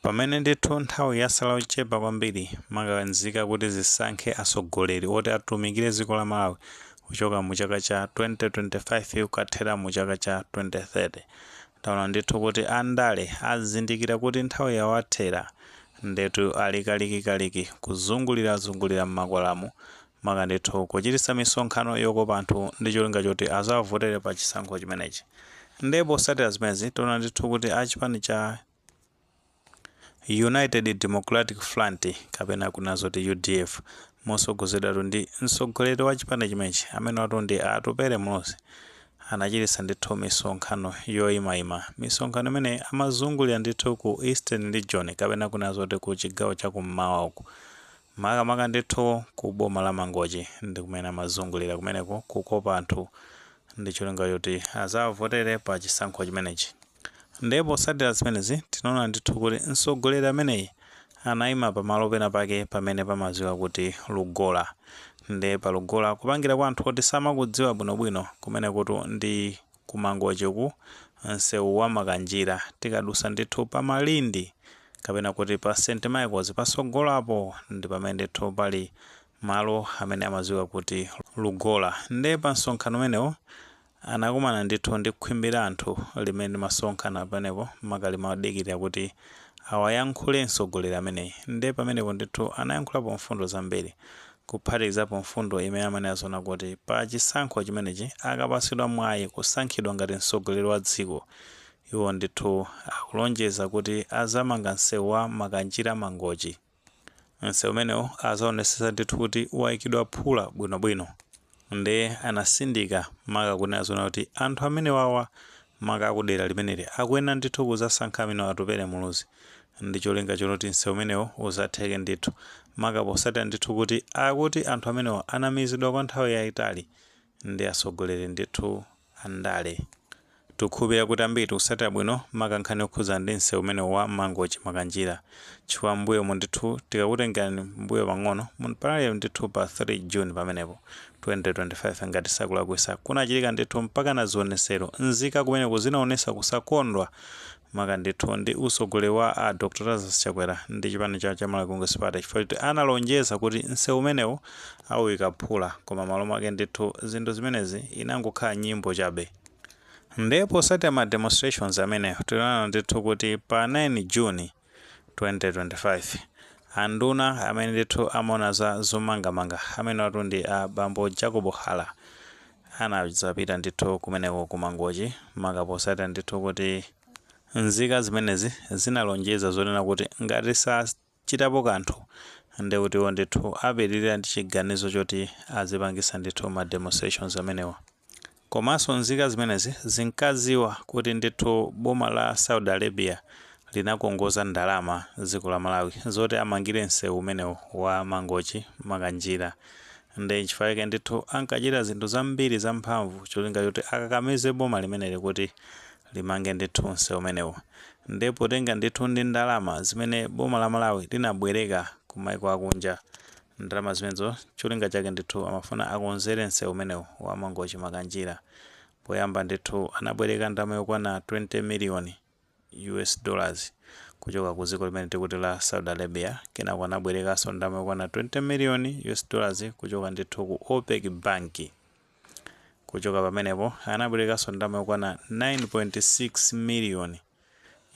Pamene ndithu nthawi yasala yochepa kwambiri maka nzika kuti zisankhe atsogoleri oti atumikire dziko la Malawi kuchoka mu chaka cha 2025 kukathera mu chaka cha 2030, taona ndithu kuti andale azindikira kuti nthawi yawathera ndetu ali kalikikaliki kuzungulirazungulira m'makwalalamu maka ndithu kuchititsa misonkhano yokopa anthu ndi cholinga choti azawavotere pa chisankho chimenechi. Ndiye potsatira zimenezi, taona ndithu kuti a chipani cha United Democratic Front kapena kunena zoti udf motsogozedwatu ndi mtsogoleri wa chipani chimenechi amenewatu ndi a Atupele Muluzi anachititsa ndithu misonkhano yoyimayima. Misonkhano imeneyi amazungulira ndithu ku Eastern Region kapena kunena zoti ku chigawo cha kummawa uku. Makamaka ndithu ku boma la Mangochi ndi kumene amazungulira kumeneko kukopa anthu ndi cholinga choti azawavotere pa chisankho chimenechi. Ndiye potsatira zimenezi tinaona ndithu kuti mtsogoleri ameneyi anaima pamalo pena pake pamene pamadziwika kuti Lugola. Ndiye pa Lugola kupangira kwa anthu oti samakudziwa bwinobwino kumenekutu ndi ku mangochi uku nsewu wa makanjira tikadusa ndithu pa malindi kapena kuti pa st michaels pasogolo apo ndi pamene ndithu pali malo amene amadziwika kuti lugola nde pa msonkhano umenewo anakumana ndithu ndi khwimbi la anthu limene limasonkhana pamenepo maka limadikirira kuti awayankhule mtsogoleri ameneyi nde pamenepo ndithu anayankhulapo mfundo zambiri kuphatikizapo mfundo imene amanena zonena kuti pa chisankho chimenechi akapatsidwa mwayi kusankhidwa ngati mtsogoleri wa dziko, iwo ndithu akulonjeza kuti azamanga msewu wa Makanjira-Mangochi. Msewu umenewu azaonetsetsa ndithu kuti waikidwa phula bwinobwino. nde anasindika maka kunena zonena kuti anthu amenewawa maka akudera limeneli akuyenera ndithu kuzasankha amene atupele muluzi ndi cholinga chonena kuti msewu umenewo uzatheke ndithu maka posatira ndithu kuti akuti anthu amenewa anamizidwa kwa nthawi yaitali ndi atsogoleri ndithu andale. Tikukhulupirira kuti ambiri tikusatira bwino maka nkhani yokhudzana ndi msewu umenewu wa Mangochi-Makanjira chifukwa m'mbuyomu ndithu tikakutengerani m'mbuyo pang'ono munali ndithu pa 3 June pamenepo, 2025 ngati sinkulakwisa, kunachitika ndithu mpakana zionetsero, nzika kumeneko zinaonetsa kusakondwa maka ndithu ndi usogoleri wa a Dr Lazarus Chakwera ndi chipani cha cha Malawi Congress Party chifukwa choti analonjeza kuti msewu umenewu awuyika phula koma malo mwake ndithu zinthu zimenezi inangokhala nyimbo chabe nde posatira ma demonstrations amenewo tinaona ndithu kuti pa 9 June 2025 anduna amene ndithu amaona za zomangamanga amenewatu ndi a bambo Jacob Hara anazapita ndithu kumeneko ku Mangochi maka posatira ndithu kuti nzika zimenezi zinalonjeza zonena kuti ngati sachitapo kanthu nde kuti iwo ndithu apitirira ndi chiganizo choti azipangisa ndithu ma demonstrations amenewa komanso nzika zimenezi zinkaziwa kuti ndithu boma la Saudi Arabia linakongoza ndalama dziko la Malawi zoti amangire msewu umenewu wa Mangochi Makanjira Ndiye nchifukwa chake ndithu ankachita zinthu zambiri zamphamvu cholinga choti akakamize boma limeneli kuti limange ndithu msewu umenewu. Ndiye potenga ndithu ndi ndalama zimene boma la Malawi linabwereka ku maiko akunja, ndalama zimenezo cholinga chake ndithu amafuna akonzere msewu umenewu wa Mangochi-Makanjira. Poyamba ndithu anabwereka ndalama yokwana 20 million. US dollars kuchoka ku dziko limene tikuti la Saudi Arabia, kenako anabwerekanso ndalama yokwana 20 million US dollars kuchoka ndithu ku OPEC bank. Kuchoka pamenepo anabwerekanso ndalama yokwana 9.6 million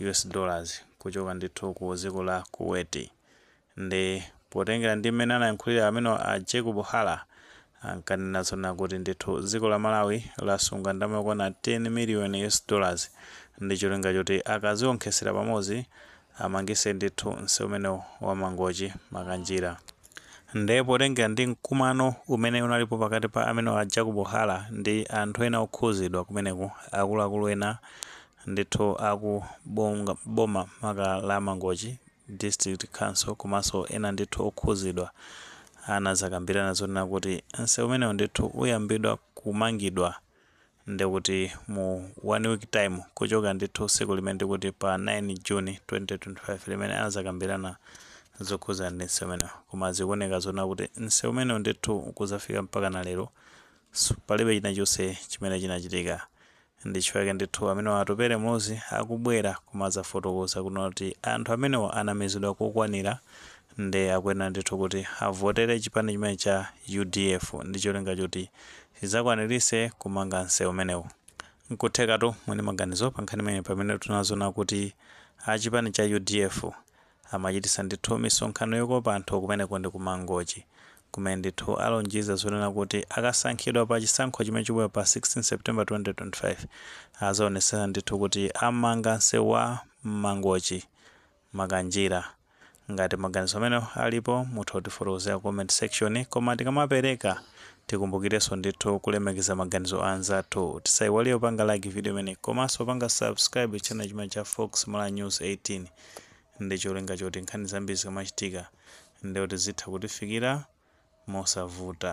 US dollars kuchoka ndithu ku dziko la Kuwait. Nde potengera ndi mmene anayankhulira amene a Jacob Hara ankanena zonena kuti ndithu dziko la Malawi lasunga ndalama yokwana 10 million US dollars ndi cholinga choti akazionkhesera pamodzi amangise ndithu nseu umenewu wa Mangochi Makanjira. Nde potengera ndi mkumano umene unalipo pakati pa amene a Jacob Hara ndi anthu ena okhuzidwa kumeneko akuluakulu ena ndithu aku boma maka la Mangochi, District Council komanso ena ndithu okhuzidwa anazakambirana zonena kuti nsewu umenewu ndithu uyambidwa kumangidwa ndikuti mu one week time kuchoka ndithu siku limene ndikuti pa 9 June 2025 limene anazakambirana zokhuza ndi nsewu umenewu koma zikuoneka zonena kuti nsewu umenewu ndithu kuzafika mpakana lero palibe chinachonse chimene chinachitika Ndichifukwa chake ndithu amenewa a Atupele Muluzi akubwera kumazafotokoza kunena kuti anthu amenewa anamizidwa kokwanira nde akuyenera ndithu kuti avotere chipani chimene cha udf ndicholinga choti chizakwanirise kumanga nseu umenewu. Nkuthekatu muli ndi maganizo pankhani imeneyi pamene tunazona kuti achipani cha udf Amachitisa ndithu misonkhano yokopa anthu kumeneko ndi ku Mangochi kumene ndithu alonjeza zonena kuti akasankhidwa pa chisankho chimene chikubwera pa 16 September 2025 azaonetsetsa ndithu kuti amanga nseu wa Mangochi Makanjira. Ngati maganizo amenewo alipo mutha kutifotokozera comment section koma tikamapereka tikumbukireso ndithu kulemekeza maganizo a anzathu. Tisaiwale kupanga like video imeneyi komaso kupanga subscribe channel chimene cha Fox Malawi News 18. ndi cholinga choti nkhani zambiri zikamachitika ndiye kuti zitha kutifikira mosavuta.